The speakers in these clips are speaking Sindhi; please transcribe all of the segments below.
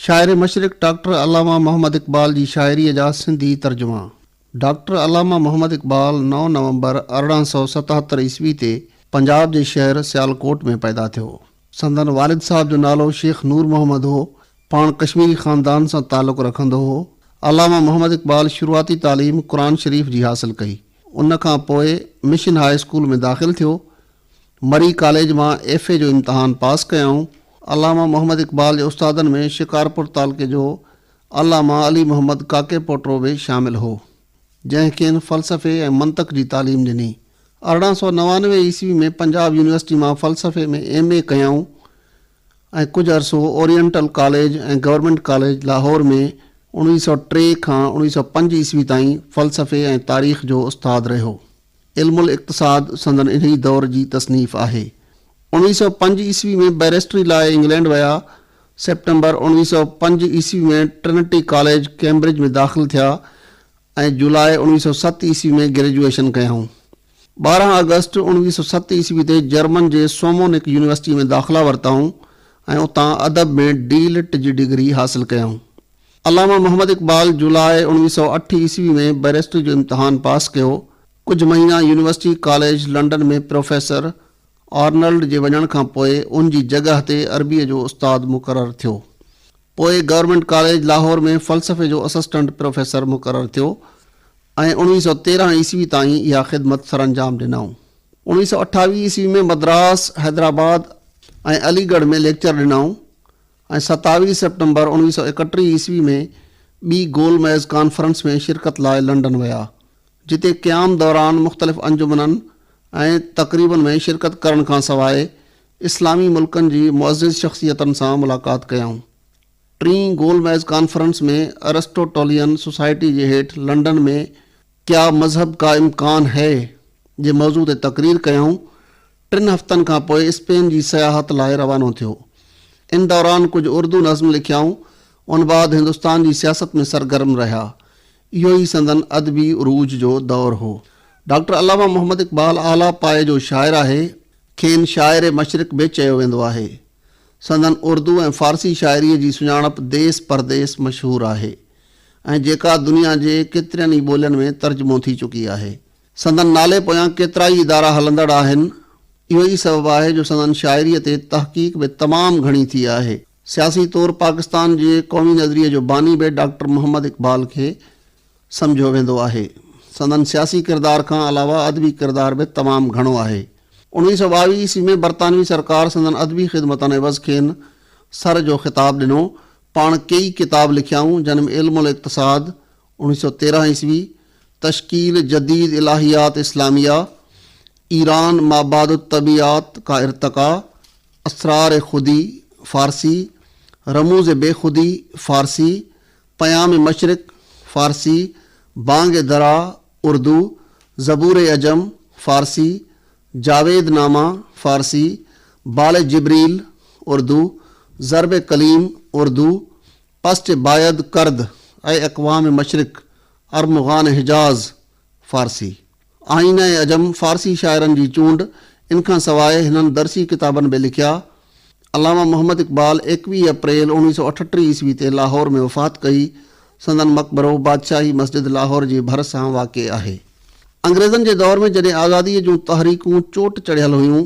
شاعر مشرق ڊاڪٽر علامه محمد اقبال جي شاعريء جا سنڌي ترجما ڊاڪٽر علامه محمد اقبال نو نومبر ارڙهن سؤ ستهتر عيسوي تي پنجاب جي شهر سيالڪوٽ ۾ پيدا ٿيو. سندن والد صاحب جو نالو شيخ نور محمد هو. پاڻ ڪشميري خاندان سان تعلق رکندو هو. علامه محمد اقبال شروعاتي تعليم قرآن شريف جي حاصل ڪئي. ان کان پوء مشن هاء اسڪول ۾ داخل ٿيو. مري ڪاليج مان ايف اي جو امتحان پاس ڪيائون. علامه محمد اقبال جي استادن ۾ شڪارپور تعلقي جو علامه علي محمد ڪاڪي پوٽرو به شامل هو، جنهن کين فلسفي ۽ منطق جي تعليم ڏني. ارڙهن سؤ نوانوي عيسوي ۾ پنجاب يونيورسٽي مان فلسفي ۾ ايم اي ڪيائون ۽ ڪجهه عرصو oriental college ۽ government college Lahore ۾ اڻويهه سؤ ٽي کان اڻويهه سؤ پنج عيسوي تائين فلسفي ۽ تاريخ جو استاد رهيو. علم الاقتصاد سندن انهيء دور جي تصنيف آهي. اوڻويهه سؤ پنج عيسوي ۾ بئريسٽري لاء انگلينڊ ويا. سيپٽمبر اوڻويهه سؤ پنج عيسوي ۾ ٽرنٽي ڪاليج ڪيمبرج ۾ داخل ٿيا ۽ جولاء اوڻويهه سؤ ست عيسوي ۾ گريجوئيشن ڪيائون. ٻارهن آگسٽ اوڻويهه سؤ ست عيسوي تي جرمن جي سومونڪ يونيورسٽيء ۾ داخلا ورتائون ۽ اتان ادب ۾ ڊي لٽ جي ڊگري حاصل ڪيائون. علامه محمد اقبال جولاء اوڻ ويهه سؤ اٺ عيسوي ۾ بئريسٽري جو امتحان پاس ڪيو. ڪجهه مهينا university college London ۾ professor Arnold جي وڃڻ کان پوء ان جي جڳهه تي عربيء جو استاد مقرر ٿيو. پوء گورنمينٽ ڪاليج لاهور ۾ فلسفي جو اسسٽنٽ پروفيسر مقرر ٿيو ۽ اوڻ ويهه سؤ تيرهن عيسوي تائين اها خدمت سرانجام ڏنائون. اوڻ ويهه سؤ اٺاويهه عيسوي ۾ مدراس، حيدرآباد ۽ علي ڳڙهه ۾ ليڪچر ڏنائون. ۽ ستاويهه سيپٽمبر اڻويهه سؤ ايڪٽيهه عيسوي ۾ ٻي گول ميز ڪانفرنس ۾ شرڪت لاء لنڊن ويا، جتي قيام دوران مختلف انجمنن ۽ تقريبن ۾ شرڪت ڪرڻ کان سواء اسلامي ملڪن جي معزز شخصيتن سان ملاقات ڪيائون. ٽين گول ميز ڪانفرنس ۾ ارسٽوٽولين سوسائٽي جي هيٺ لنڊن ۾ ڪيا مذهب ڪا امڪان هي؟ جي موضوع تي تقرير ڪيائون. ٽن هفتن کان پوء اسپين جي سياحت لاء روانو ٿيو. ان دوران ڪجهه اردو نظم لکيائون. ان بعد هندستان جي سياست ۾ سرگرم رهيا. اهو ئي سندن ادبي عروج جو دور هو. ڊاڪٽر علامه محمد اقبال اعليٰ پايي جو شاعر آهي. کين شاعر مشرق به چيو ويندو آهي. سندن اردو ۽ فارسي شاعريء جي سڃاڻپ ديس پرديس مشهور آهي. ۽ جيڪا دنيا جي ڪيترين ئي ٻولين ۾ ترجمو ٿي چڪي آهي. سندن نالي پويان ڪيترائي ادارا هلندڙ آهن. اهو ئي سبب آهي جو سندن شاعريء تي تحقيق به تمام گهڻي ٿي آهي. سياسي طور پاڪستان جي قومي نظريي جو باني به ڊاڪٽر محمد اقبال کي سمجهيو ويندو آهي. سندن سياسي ڪردار کان علاوه ادبي ڪردار به تمام گهڻو آهي. اڻويهه سؤ ٻاويهه عيسوي ۾ برطانوي سرڪار سندن ادبي خدمتن عيوض کين سر جو خطاب ڏنو پاڻ ڪيئي ڪتاب لکيائون جن ۾ علم الاقتصاد، اڻويهه سؤ تيرهن عيسوي، تشڪيل جديد الاهيات اسلاميه، ايران مابعد الطبعيات کا ارتقا، اسرار خودي، فارسي، رموز بي خودي، فارسي، پيام مشرق، فارسي، بانگ درا، اردو، زبور عجم، فارسي، جاويد نامه، فارسي، بال جبريل، اردو، ضرب قليم، اردو، پسچ بايد کرد ۽ اقوام مشرق، ارمغان حجاز، فارسي، آئينه عجم، فارسي شاعرن جي چونڊ، ان کان سواء هنن درسي ڪتابن به لکيا، علامه محمد اقبال ايڪويهه اپريل اوڻويهه سؤ اٺٽيهه عيسوي تي لاهور ۾ وفات ڪئي. سندن مقبرو بادشاهي مسجد لاهور جي ڀرسان واقع آهي. انگريزن جي دور ۾ جڏهن آزاديء جون تحريڪون چوٽ چڙهيل هيون،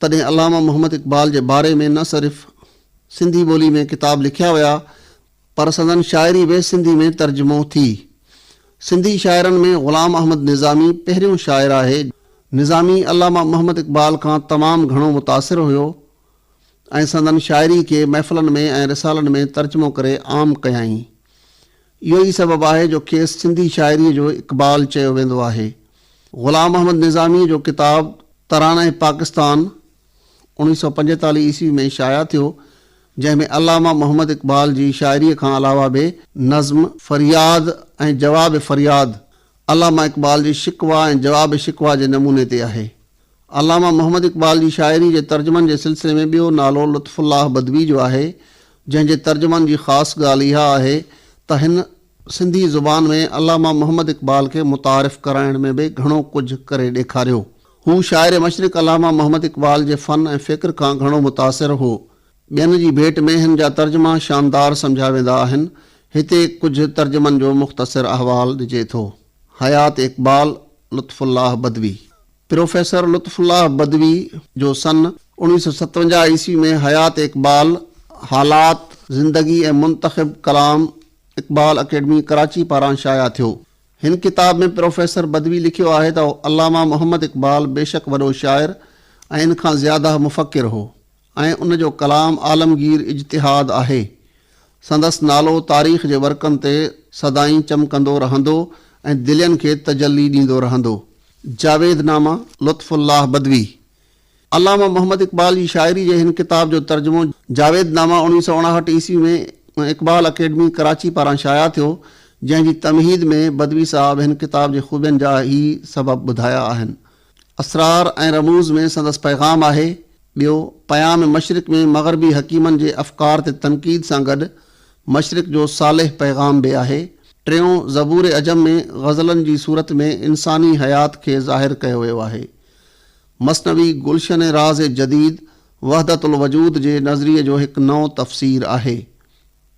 تڏهن علامه محمد اقبال جي باري ۾ نه صرف سنڌي ٻولي ۾ ڪتاب لکيا ويا، پر سندن شاعري به سنڌي ۾ ترجمو ٿي. سنڌي شاعرن ۾ غلام احمد نظامي پهريون شاعر آهي. نظامي علامه محمد اقبال کان تمام گهڻو متاثر هيو ۽ سندن شاعري کي محفلن ۾ ۽ رسالن ۾ ترجمو ڪري عام ڪيائين. اهو ئي سبب آهي جو کيس سنڌي شاعريء جو اقبال چيو ويندو آهي. غلام احمد نظاميء جو ڪتاب ترانه پاڪستان، اڻويهه سؤ پنجيتاليهه عيسوي ۾ شايع ٿيو، جنهن ۾ علامه محمد اقبال جي شاعريء کان علاوه به نظم فرياد ۽ جواب فرياد علامه اقبال جي شڪوه ۽ جواب شڪوه جي نموني تي آهي. علامه محمد اقبال جي شاعريء جي ترجمن جي سلسلي ۾ ٻيو نالو لطف الله بدوي جو آهي، جنهن جي ترجمن جي خاص ڳالهه اها آهي ته هن سنڌي زبان ۾ علامه محمد اقبال کي متعارف ڪرائڻ ۾ به گهڻو ڪجهه ڪري ڏيکاريو. هو شاعر مشرق علامه محمد اقبال جي فن ۽ فڪر کان گهڻو متاثر هو. ٻين جي ڀيٽ ۾ هن جا ترجما شاندار سمجهيا ويندا آهن. هتي ڪجهه ترجمن جو مختصر احوال ڏجي ٿو. حيات اقبال، لطف الله بدوي. پروفيسر لطف الله بدوي جو سن اوڻ ويهه سؤ ستونجاهه عيسوي ۾ حيات اقبال، حالات، زندگي ۽ منتخب ڪلام اقبال اڪيڊمي ڪراچي پاران شايع ٿيو. هن ڪتاب ۾ پروفيسر بدوي لکيو آهي ته علامه محمد اقبال بيشڪ وڏو شاعر ۽ ان کان زياده مفڪر هو ۽ ان جو ڪلام عالمگير اجتهاد آهي. سندس نالو تاريخ جي ورقن تي سدائين چمڪندو رهندو ۽ دلين کي تجلي ڏيندو رهندو. جاويد نامه لطف الله بدوي علامه محمد اقبال جي شاعري جي هن ڪتاب جو ترجمو جاويد نامه اوڻويهه سؤ اڻاهٺ عيسوي ۾ اقبال اڪيڊمي ڪراچي پاران شايع ٿيو، جنهن جي تمهيد ۾ بدوي صاحب هن ڪتاب جي خوبين جا هي سبب ٻڌايا آهن، اسرار ۽ رموز ۾ سندس پيغام آهي، ٻيو، پيام مشرق ۾ مغربي حڪيمن جي افڪار تي تنقيد سان گڏ مشرق جو صالح پيغام به آهي، ٽيون، زبور عجم ۾ غزلن جي صورت ۾ انساني حيات کي ظاهر ڪيو ويو آهي. مثنوي گلشن راز جديد وحدت الوجود جي نظريي جو هڪ نئون تفسير آهي.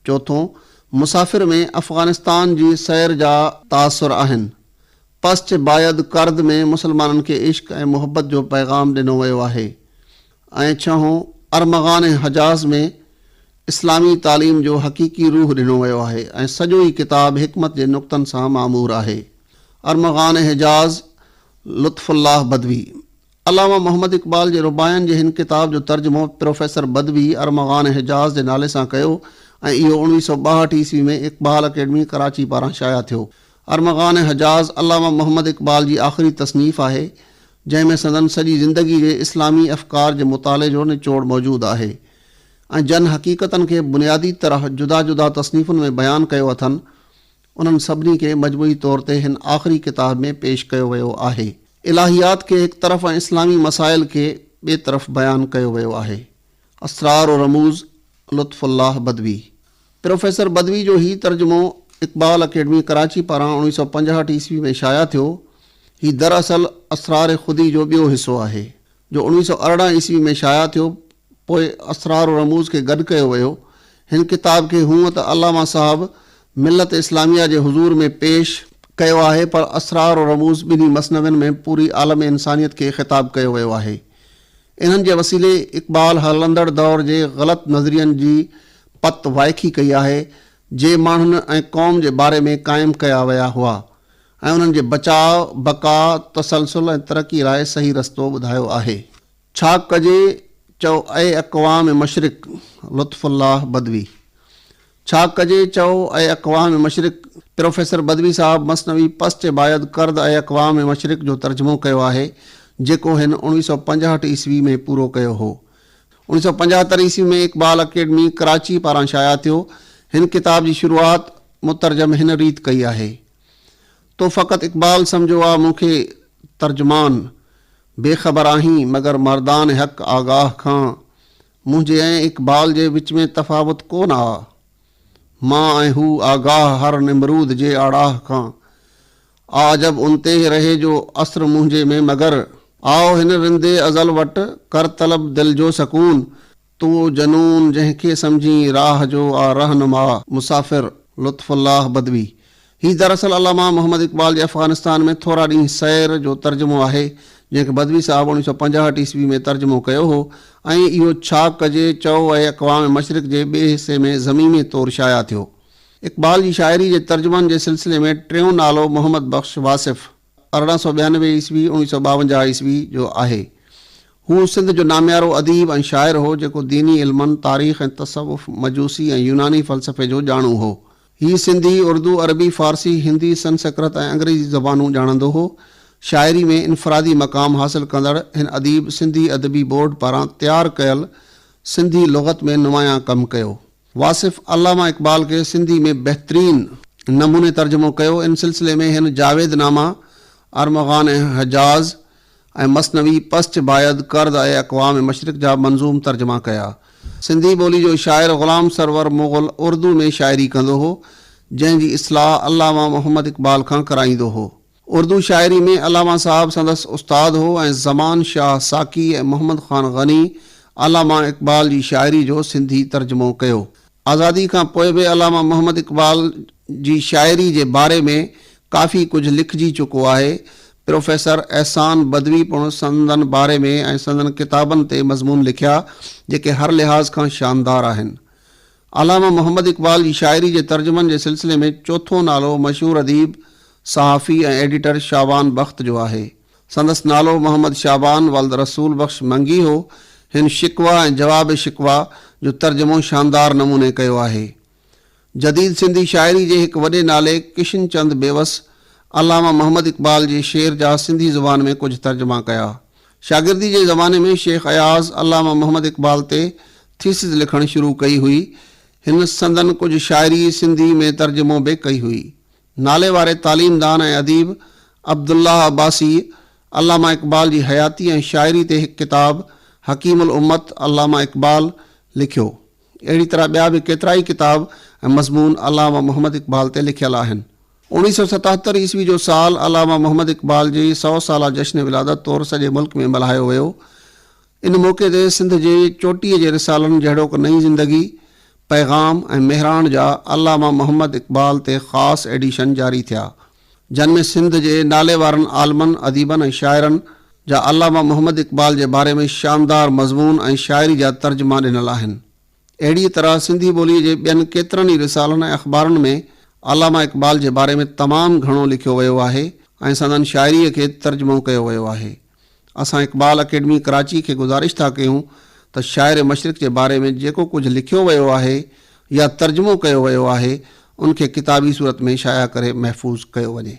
چوٿون، مسافر ۾ افغانستان جي سير جا تاثر آهن. پسچ بايد ڪرد ۾ مسلمانن کي عشق ۽ محبت جو پيغام ڏنو ويو آهي ۽ ڇهون، ارمغان ۽ حجاز ۾ اسلامي تعليم جو حقيقي روح ڏنو ويو آهي ۽ سڄو ئي ڪتاب حڪمت جي نقطن سان معمور آهي. ارمغان ۽ حجاز لطف الله بدوي علامه محمد اقبال جي رباعين جي هن ڪتاب جو ترجمو پروفيسر بدوي ارمغان حجاز جي نالي سان ڪيو ۽ اهو اڻويهه سؤ ٻاهٺ عيسوي ۾ اقبال اڪيڊمي ڪراچي پاران شايع ٿيو. ارمغان حجاز علامه محمد اقبال جي آخري تصنيف آهي، جنهن ۾ سندن سڄي زندگي جي اسلامي افڪار جي مطالعي جو نچوڙ موجود آهي ۽ جن حقيقتن کي بنيادي طرح جدا جدا تصنيفن ۾ بيان ڪيو اٿن، انهن سڀني کي مجموعي طور تي هن آخري ڪتاب ۾ پيش ڪيو ويو آهي. الٰهيات کي هڪ طرف ۽ اسلامي مسائل کي ٻئي طرف بيان ڪيو ويو آهي. اسرار و رموز، لطف الله بدوي. پروفيسر بدوي جو هي ترجمو اقبال اڪيڊمي ڪراچي پاران اوڻويهه سؤ پنجاهٺ عيسوي ۾ شايع ٿيو. هي دراصل اسرار خودي جو ٻيو حصو آهي. جو اڻويهه سؤ ارڙهن عيسوي ۾ شايع ٿيو، پوء اسرار و رموز کي گڏ ڪيو ويو. هن ڪتاب کي هونء ته علامه صاحب ملت اسلاميه جي حضور ۾ پيش ڪيو آهي پر اسرار و رموز ٻنهي مثنوين ۾ پوري عالم انسانيت کي خطاب ڪيو ويو آهي. انهن جي وسيلي اقبال هلندڙ دور جي غلط نظرين جي پت وائکي ڪئي آهي، جي ماڻهن ۽ قوم جي باري ۾ قائم ڪيا ويا هئا. ۽ انهن جي بچاء، بقا، تسلسل ۽ ترقي لاء صحيح رستو ٻڌايو آهي. ڇا ڪجي چئو اي اقوام مشرق لطف الله بدوي ڇا ڪجي چئو اي اقوام مشرق پروفيسر بدوي صاحب مثنوي پسچ بايد ڪرد اي اقوام مشرق جو ترجمو ڪيو آهي جيڪو هن اوڻويهه سؤ پنجاهٺ عيسوي ۾ پورو ڪيو هو اوڻيهه سؤ پنجاهتر عيسوي ۾ اقبال اڪيڊمي ڪراچي پاران شايع ٿيو هن ڪتاب جي شروعات مترجم هن ريت ڪئي آهي تو فقط اقبال سمجهيو آ مون کي ترجمان بي خبر آهين مگر مردان حق آگاهه کان منهنجي ۽ اقبال جي وچ ۾ تفاوت ڪو نه آ مان ۽ هو آگاهه هر نمرود جي آڙاهه کان آ عجب ان تي رهي جو اثر منهنجي ۾ مگر آء هن رندي ازل وٽ ڪر طلب دل جو سڪون تون او جنون جنهن کي سمجهين راهه جو آ رهنما، مسافر، لطف الله بدوي. هي دراصل علامه محمد اقبال جي افغانستان ۾ ٿورا ڏينهن سير جو ترجمو آهي، جنهن کي بدوي صاحب اوڻيهه سؤ پنجاهٺ عيسوي ۾ ترجمو ڪيو هو ۽ اهو ڇا ڪجي چئو اهي اقوام مشرق جي ٻئي حصي ۾ ضميمي طور شايع ٿيو. اقبال جي شاعري جي ترجمن جي سلسلي ۾ ٽيون نالو محمد بخش واصف، ارڙهن سؤ ٻيانوي عيسوي، اوڻيهه سؤ ٻاونجاهه عيسوي، جو آهي. هو سنڌ جو ناميارو اديب ۽ شاعر هو، جيڪو ديني علمن، تاريخ ۽ تصوف، مجوسي ۽ يوناني فلسفي جو ڄاڻو هو. هي سنڌي، اردو، عربي، فارسي، هندي، سنسڪرت ۽ انگريزي زبانون ڄاڻندو هو. شاعري ۾ انفرادي مقام حاصل ڪندڙ هن اديب سنڌي ادبي بورڊ پاران تيار ڪيل سنڌي لغت ۾ نمايان ڪم ڪيو. واصف علامه اقبال کي سنڌي ۾ بهترين نموني ترجمو ڪيو. ان سلسلي ۾ هن جاويد نامه، ارمغان ۽ حجاز ۽ مثنوي پسچ بايد ڪرد ۽ اقوام مشرق جا منظوم ترجما ڪيا. سنڌي ٻولي جو شاعر غلام سرور مغل اردو ۾ شاعري ڪندو هو، جنهن جي اصلاح علامه محمد اقبال کان ڪرائيندو هو. اردو شاعري ۾ علامه صاحب سندس استاد هو ۽ زمان شاهه ساقي ۽ محمد خان غني علامه اقبال جي شاعري جو سنڌي ترجمو ڪيو. آزادي کان پوء به علامه محمد اقبال جي شاعري جي باري ۾ ڪافي ڪجهه لکجي چڪو آهي. پروفيسر احسان بدوي پڻ سندن باري ۾ ۽ سندن ڪتابن تي مضمون لکيا، جيڪي هر لحاظ کان شاندار آهن. علامه محمد اقبال جي شاعري جي ترجمن جي سلسلي ۾ چوٿون نالو مشهور اديب، صحافي ۽ ايڊيٽر شعبان بخت جو آهي. سندس نالو محمد شعبان ولد رسول بخش منگي هو. هن شڪوه ۽ جواب شڪوه جو ترجمو شاندار نموني ڪيو آهي. جديد سنڌي شاعري جي هڪ وڏي نالي ڪشن چند بيوس علامه محمد اقبال جي شعر جا سنڌي زبان ۾ ڪجهه ترجما ڪيا. شاگردي جي زماني ۾ شيخ اياز علامه محمد اقبال تي ٿيسز لکڻ شروع ڪئي هئي. هن سندن ڪجهه شاعري سنڌي ۾ ترجمو به ڪئي هئي. نالي واري تعليم دان ۽ اديب عبدالله عباسيء علامه اقبال جي حياتي ۽ شاعري تي هڪ ڪتاب حڪيم الامت علامه اقبال لکيو. اهڙي طرح ٻيا به ڪيترائي ڪتاب ۽ مضمون علامه محمد اقبال تي لکيل آهن. اوڻيهه سؤ ستهتر عيسوي جو سال علامه محمد اقبال جي سؤ سالا جشن ولادت طور سڄي ملڪ ۾ ملهايو ويو. ان موقعي تي سنڌ جي چوٽيء جي رسالن جهڙوڪ نئين زندگي، پيغام ۽ مهراڻ جا علامه محمد اقبال تي خاص ايڊيشن جاري ٿيا. جن ۾ سنڌ جي ناليوارن عالمن، اديبن ۽ شاعرن جا علامه محمد اقبال جي باري ۾ شاندار مضمون ۽ شاعري جا ترجما ڏنل آهن. اهڙيء طرح سنڌي ٻوليء جي ٻين ڪيترن ئي رسالن ۽ اخبارن ۾ علامه اقبال جي باري ۾ تمام گهڻو لکيو ويو آهي ۽ سندن شاعريء کي ترجمو ڪيو ويو آهي. اسان اقبال اڪيڊمي ڪراچي کي گذارش ٿا ڪيون ته شاعر مشرق جي باري ۾ جيڪو ڪجهه لکيو ويو آهي يا ترجمو ڪيو ويو آهي ان کي ڪتابي صورت ۾ شايع ڪري محفوظ ڪيو وڃي.